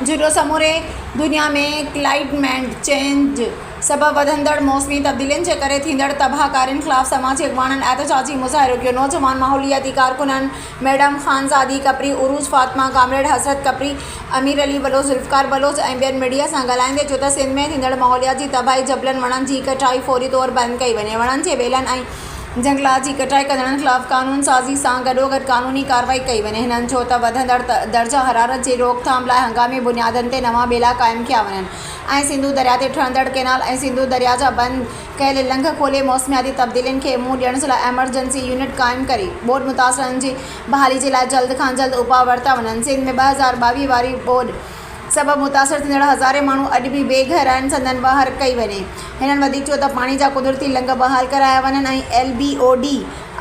جهرو سموري دنيا ۾ climate change سبب وڌندڙ موسمي تبديلين جي ڪري ٿيندڙ تباهه ڪارين خلاف سماجي اڳواڻن احتجاجي مظاهرو ڪيو نوجوان ماحولياتي ڪارڪنن ميڊم خانزادي کپري، عروس فاطمه، ڪامريڊ حسرت کپري، امير علي بلوچ، ذوالفقار بلوچ ۽ ٻين ميڊيا سان ڳالهائيندي چيو ته سنڌ ۾ ٿيندڙ ماحوليات جي تباهي جبلن وڻن جي ڪٽائي فوري طور بند ڪئي وڃي، وڻن جي ٻيلن ۽ جهنگلات جي ڪٽائي ڪندڙن خلاف قانون سازي سان گڏوگڏ قانوني ڪارروائي ڪئي وڃي، هنن چيو ته وڌندڙ درجه حرارت جي روڪٿام لاء هنگامي بنيادن تي نوان ٻيلا قائم ڪيا وڃن ۽ سنڌو درياء تي ٺهندڙ ڪئنال ۽ سنڌو درياء جا بند ڪيل لنگهه کولي موسمياتي تبديلين کي منهن ڏيڻ جي لاء ايمرجنسي يونٽ قائم ڪري ٻوڏ متاثرن جي بحالي جي لاء جلد کان جلد اپاء ورتا وڃن سنڌ ۾ ٻه هزار ٻاويهه واري ٻوڏ سبب متاثر ٿيندڙ هزارين ماڻهو اڄ به بي گهر آهن سندن واهر ڪئي وڃي هنن وڌيڪ چيو ته پاڻي جا قدرتي لنگهه بحال ڪرايا وڃن ۽ L B O D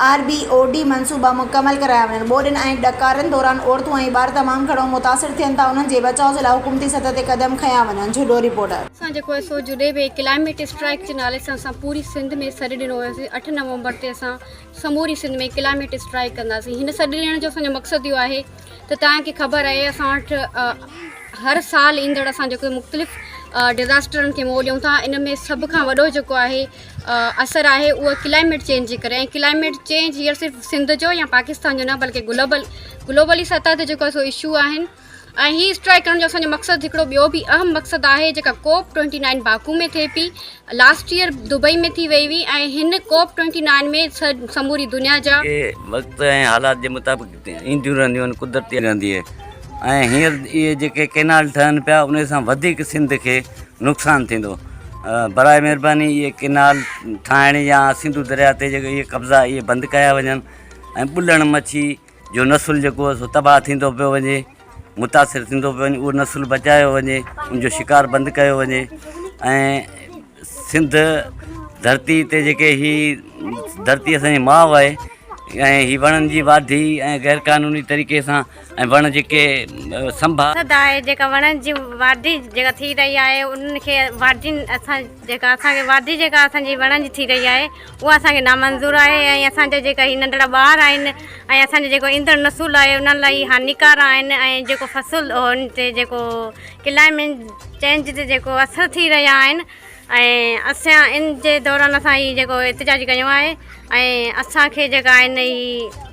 R B O D منصوبا مڪمل ڪرايا وڃن ٻوڏن ۽ ڏڪارن دوران عورتون ۽ ٻار تمام گهڻو متاثر ٿين ٿا انهن جي بچاء جي لاء حڪومتي سطح تي قدم کنيا وڃن جهڏو رپورٽر. اسان جيڪو آهي سو جڏهن به ڪلائميٽ اسٽرائيڪ جي نالي سان اسان پوري سنڌ ۾ سڏ ڏنو هيوسي اٺ نومبر تي اسان سموري سنڌ ۾ ڪلائميٽ اسٽرائيڪ ڪنداسين هن سڏ ڏيڻ جو اسان جو مقصد اهو آهي ته تنهن کي خبر آهي اسان وٽ هر سال ايندڙ اسان جيڪو مختلف ڊزاسٽرن کي منهن ڏيون ٿا ان ۾ سڀ کان وڏو جيڪو آهي اثر آهي اهو ڪلائميٽ چينج جي ڪري ڪلائميٽ چينج هيئر صرف سنڌ جو يا پاڪستان جو نه بلڪه گلوبل گلوبلي سطح تي جيڪو سو اشو آهن ۽ هي اسٽرائيڪ ڪرڻ جو اسان جو مقصد هڪڙو ٻيو به اهم مقصد آهي جيڪا ڪوپ ٽوئنٽي نائن باڪو ۾ ٿئي پي لاسٽ يئر دبئي ۾ ٿي وئي هئي ۽ هن ڪوپ ٽوئنٽي نائن ۾ سموري دنيا جا اهي وقت ۽ حالات جي مطابق اينديون رهنديون آهن قدرتي رهندي اهي ۽ هينئر اهي جيڪي ڪينال ٺهن پيا انهي سان وڌيڪ سنڌ کي نقصان ٿيندو براء مهرباني اهي ڪينال ٺاهڻ يا سنڌو درياء تي جيڪي اهي قبضا اهي بند ڪيا وڃن ۽ ٻلڻ مڇي جو نسل جيڪو سو تباهه ٿيندو پيو وڃي متاثر ٿيندو پيو وڃي اهو نسل بچايو وڃي ان جو شڪار بند ڪيو وڃي ۽ سنڌ ڌرتي تي جيڪي هي ڌرتي اسانجي ماء آهي ۽ هي وڻن جي واڍي ۽ غير قانوني طريقي سان ۽ وڻ جيڪي سنڀا آهي جيڪا وڻن جي واڍي جيڪا ٿي رهي آهي انهن کي واڍين اسان جيڪا اسانکي واڍي جيڪا اسانجي وڻن جي ٿي رهي آهي اها اسان کي نامنظور آهي ۽ اسان جا جيڪا هي ننڍڙا ٻار آهن ۽ اسان جو جيڪو ايندڙ نسل آهي انهن لاء هي هاڃيڪار آهن ۽ جيڪو فصل ان تي جيڪو ڪلائمينج چينج تي جيڪو اثر ٿي رهيا آهن ۽ اسان ان جي دوران اسان هي جيڪو احتجاج ڪيو آهي ۽ اسان کي جيڪا آهن هي